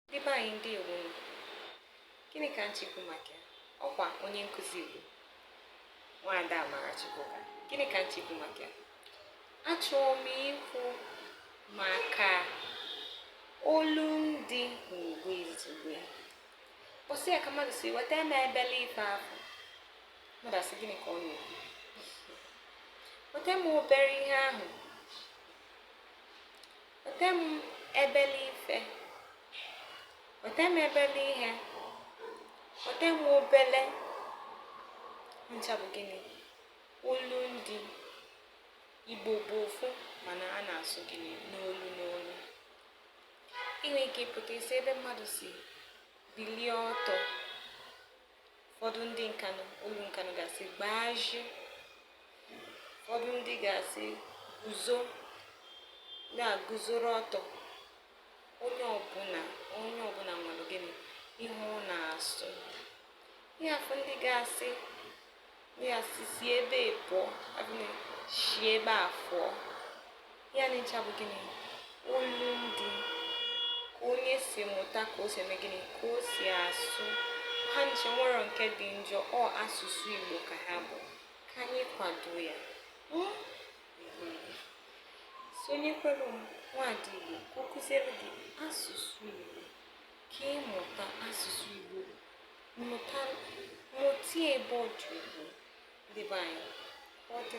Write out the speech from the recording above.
Ndị be anyị ndewo nụ, gịnị ka m chọ ikwu maka ya? Ọkwa onye nkụzi Igbo, Nwaada Amarachukwuka. Gịnị ka m chọ ikwu maka ya? Achọrọ m ikwu maka olundị n'Igbo izugbe. Ụbọsị a ka mmadụ sị weta m ebele ife afụ. Mmadụ asị gịnị ka ọ na-ekwu? Weta m obere ihe ahụ Weta m ebele ife. Weta m ebele ihe. Weta m obele. Ncha bụ gịnị? Olundị. Igbo bụ ofu mana a na-asụ gịnị n'olu n'olu. Ị nwere ike ịpụta isi ebe mmadụ sị bilie ọtọ ụfọdụ ndị Nkanụ olu Nkanụ ga-asị gbaji ụfọdụ ndị ga-asị guzo na-aguzoro ọtọ onye ọbụla nwere gịnị ihe ọ na-asụ ị afụ ndị ga-asị A sị si ebe a pụọ, si ebe a fụọ. Ya na ncha bụ gịnị? Olundị ka onye si mụta ka o si eme gịnị ka o si asụ ha ncha enwerọ nke dị njọ ọ asụsụ Igbo ka ha bụ ka anyị kwado ya hmm? sonyekwara Nwaada Igbo ka ọ kụziere gị asụsụ Igbo ka ị mụta asụsụ Igbo mụta mụta ya ebe ọ dị ukwuu ndị be anyị ọ dị